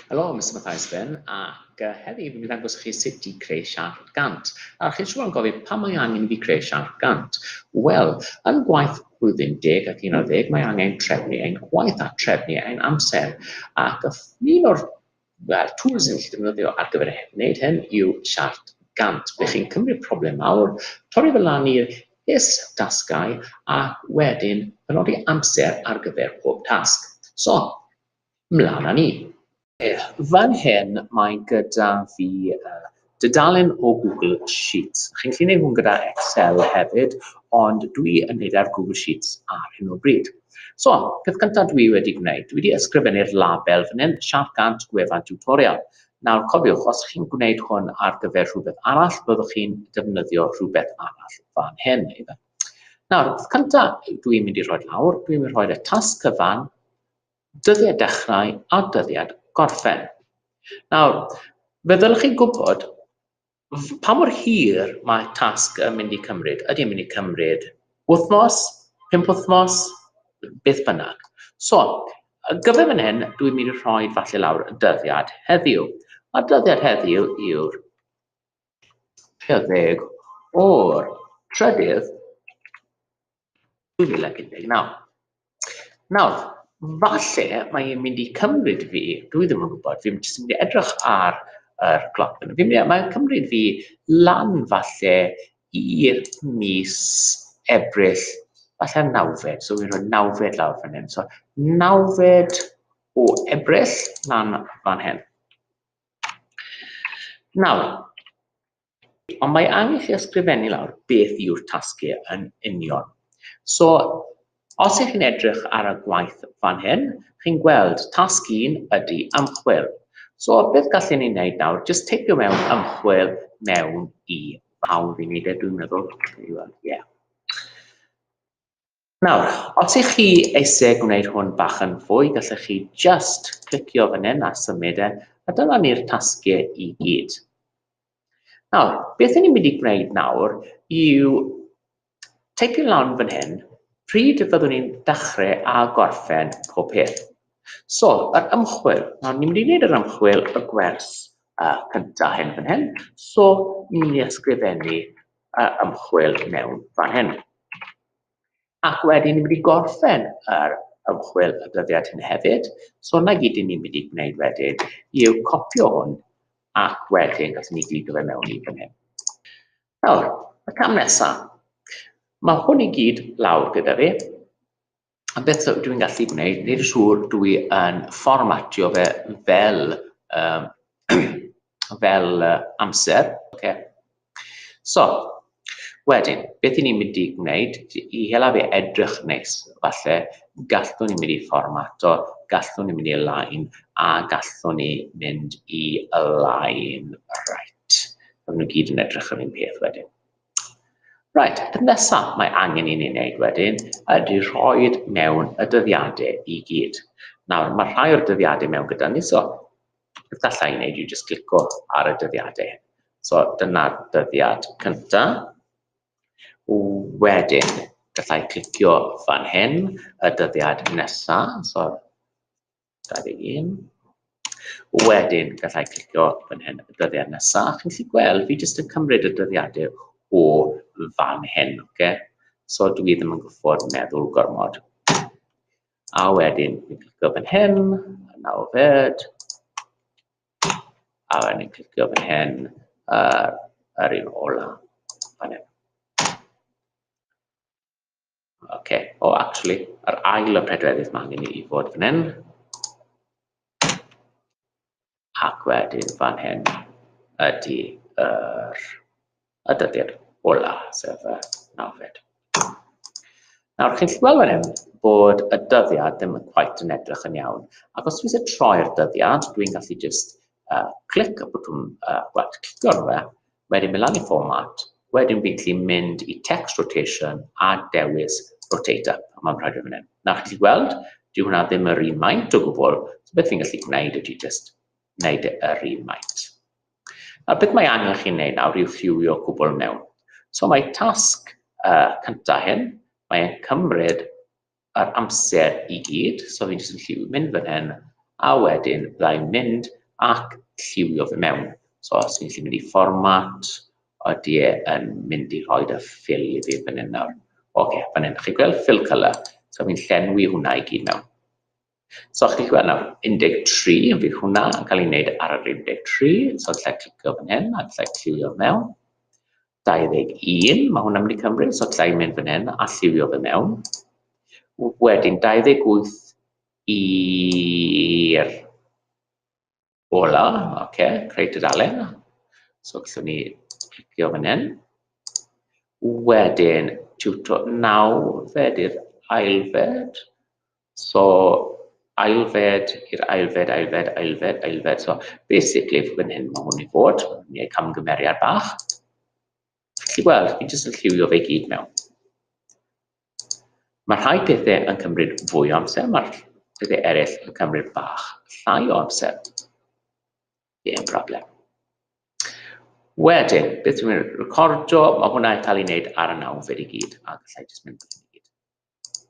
Helo, Mister Mathias Finn, ac uh, heddi fi'n mynd i ddangos chi sut i creu siart gant. A chi'n siŵr yn gofyn pa mae angen i fi creu siart gant? Wel, yn gwaith blwyddyn deg ac un ar ddeg mae angen trefnu ein gwaith a trefnu ein amser. Ac un o'r well, tools yn gallu defnyddio ar gyfer wneud hyn yw siart gant. Ble chi'n cymryd problem mawr, torri fel lan i'r is dasgau a wedyn penodi amser ar gyfer pob tasg. So, Mlaen â ni. Fan hyn mae gyda fi dudalen o Google Sheets. Chi'n gallu gwneud hwn gyda Excel hefyd, ond dwi yn gwneud e ar Google Sheets ar hyn o bryd. So, peth cyntaf dwi wedi gwneud, dwi wedi ysgrifennu'r label fan hyn, Siarc Gant Gwefan Tiwtorial. Nawr, cofiwch, os chi'n gwneud hwn ar gyfer rhywbeth arall, byddwch chi'n defnyddio rhywbeth arall fan hyn. Nawr, peth cyntaf dwi'n mynd i rhoi lawr, dwi'n mynd i rhoi y tasg cyfan dyddiad dechrau a dyddiad gorffen. Nawr, fe ddylech chi gwybod pa mor hir mae tasg yn mynd i cymryd. Ydy yn mynd i cymryd wythnos, pum wythnos, beth bynnag. So, gyfer fan hyn, dwi'n mynd i rhoi falle lawr y dyddiad heddiw. A dyddiad heddiw yw'r 30 o'r trydydd 2019. Nawr, falle mae e'n mynd i cymryd fi, dwi ddim yn gwybod, fi'n jyst yn mynd i edrych ar yr cloc fan hyn. Fi'n mynd i, mae'n cymryd fi lan falle i mis Ebrill, falle nawfed, so fi'n rhoi nawfed lawr fan hyn. So nawfed o Ebrill lan fan hyn. Nawr, Ond mae angen chi ysgrifennu lawr beth yw'r tasgu yn union. So, os ych chi'n edrych ar y gwaith fan hyn, chi'n gweld tasg un ydy ymchwil. So, beth gallen ni wneud nawr? Just teipio mewn ymchwil mewn i fawr i wneud e, dwi'n meddwl. Ie. Nawr, os ych chi eisiau gwneud hwn bach yn fwy, gallech chi just clicio fan hyn a symud e, a dyna ni'r tasgiau i gyd. Nawr, beth ni'n mynd i gwneud nawr yw teipio lawn fan hyn pryd fyddwn ni'n dechrau a gorffen pob peth. So, yr ymchwil. Nawr, ni'n mynd i wneud yr ymchwil y gwers uh, cyntaf hyn fan hyn. So, ni'n mynd i ysgrifennu y ymchwil mewn fan hyn. Ac wedyn ni'n mynd i gorffen yr ymchwil y dyddiad hyn hefyd. So yna gyd i ni'n mynd i gwneud wedyn yw copio hwn ac wedyn gallwn ni gyd o fe mewn i fan hyn. Nawr, y cam nesaf. Mae hwn i gyd lawr gyda fi. a beth dw i'n gallu gwneud, wneud y siŵr dw i yn fformatio fe fel, um, fel uh, amser. Okay. So, wedyn, beth i ni'n mynd i gwneud, i hela fe edrych nes, falle, gallwn ni'n mynd i fformato, gallwn ni'n mynd i lain, a gallwn ni mynd i lain right. Fydden nhw gyd yn edrych yr un peth wedyn. Reit, y peth nesaf mae angen i ni wneud wedyn ydy rhoi mewn y dyddiadau i gyd. Nawr, mae rhai o'r dyddiadau mewn gyda ni, so beth gallai i wneud yw jyst clico ar y dyddiadau. So dyna'r dyddiad cyntaf. Wedyn, gallai clicio fan hyn, y dyddiad nesaf, so 21. Wedyn, gallai clicio fan hyn y dyddiad nesaf. Chi'n gallu gweld, fi jyst yn cymryd y dyddiadau o fan hyn, oce? Okay? So dwi ddim yn gwybod meddwl gormod. A wedyn, fi'n clicio fan hyn, a nawr fed. A wedyn, fi'n clicio fan hyn, uh, yr un ola, fan hyn. Okay. O, oh, actually, yr ail y pedwerydd mae angen i fod fan hyn. Ac wedyn fan hyn ydy yr y dyddiad ola, sef y nawfed. Nawr, chi'n gallu gweld fan hyn bod y dyddiad ddim yn quite yn edrych yn iawn. Ac os dwi'n troi'r dyddiad, dwi'n gallu just uh, clic y bwtwm, uh, well, clicio arno fe, Wedyn mynd lan i format, wedyn fi'n gallu mynd i text rotation a dewis rotate up, a mae'n rhaid yn fan hyn. Na, chi'n gallu gweld, dyw hwnna ddim yr un maint o gwbl, so beth fi'n gallu gwneud ydy just wneud e yr un maint. A beth mae angen chi'n neud nawr yw ffiwio cwbl mewn. So mae tasg uh, cyntaf hyn, mae'n cymryd yr amser i gyd, so fi'n jyst yn lliw mynd fan hyn, a wedyn byddai'n mynd ac lliwio fe mewn. So os fi'n lliw mynd i format, oeddi e yn mynd i rhoi y ffil i fi fan hyn nawr. Oce, okay, fan hyn, chi'n gweld fill colour, so fi'n llenwi hwnna i gyd mewn. So chi'n gallu gweld nawr, 13, fydd hwnna yn cael ei wneud ar yr 13, so lle clicio fan hyn, a lle cliwio mewn. 21, mae hwnna'n mynd i cymryd, so lle i mynd fan hyn, a lliwio fe mewn. Wedyn, 28 i'r Ola, oce, okay. creu dudalen. So gallwn ni clicio fan hyn. Wedyn, tiwto nawfed i'r ailfed. So, ailfed i'r ailfed, ailfed, ailfed, ailfed. So, basically, fan hyn mae hwn i fod. Mae ei camgymeriad bach. Felly, wel, fi jyst yn lliwio fe gyd mewn. Mae rhai pethau yn cymryd fwy o amser, mae'r pethau eraill yn cymryd bach llai o amser. Dim problem. Wedyn, beth dwi'n mynd recordio, mae hwnna yn cael ei wneud ar y nawfed i gyd, a gallai jyst mynd i gyd.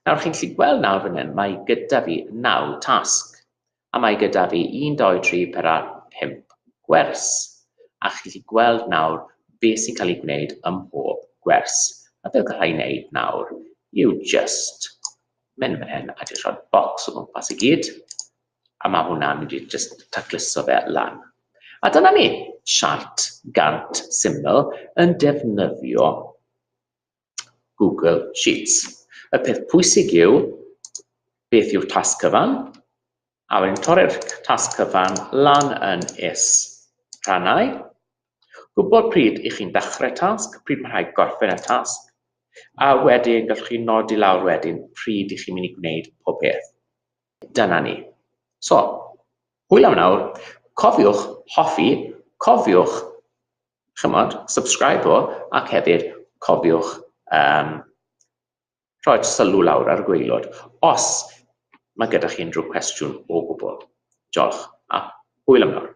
Nawr, chi'n gallu gweld nawr fan hyn, mae gyda fi naw tasg. a mae gyda fi un dou tri pedwar pump gwers, a chi'n gallu gweld nawr be sy'n cael ei gwneud ym mhob gwers, a be gallai ei wneud nawr yw jyst mynd fan hyn a jyst rhoi'r bocs o gwmpas i gyd, a mae hwnna'n mynd i jyst tacluso fe lan. A dyna ni, siart gant syml yn defnyddio Google Sheets. Y peth pwysig yw beth yw'r tasg cyfan, a wedyn torri'r tasg cyfan lan yn is rhannau. Gwybod pryd i chi'n dechrau tasg, pryd mae rhaid gorffen y tasg, a wedyn gallwch chi nodi lawr wedyn pryd i chi'n mynd i gwneud pob peth. Dyna ni. So, hwyl am nawr, cofiwch hoffi, cofiwch chymod, subscribe o, ac hefyd cofiwch um, rhoi sylw lawr ar y gweilod os mae gyda chi unrhyw cwestiwn o gwbl. Diolch, a hwyl am nawr.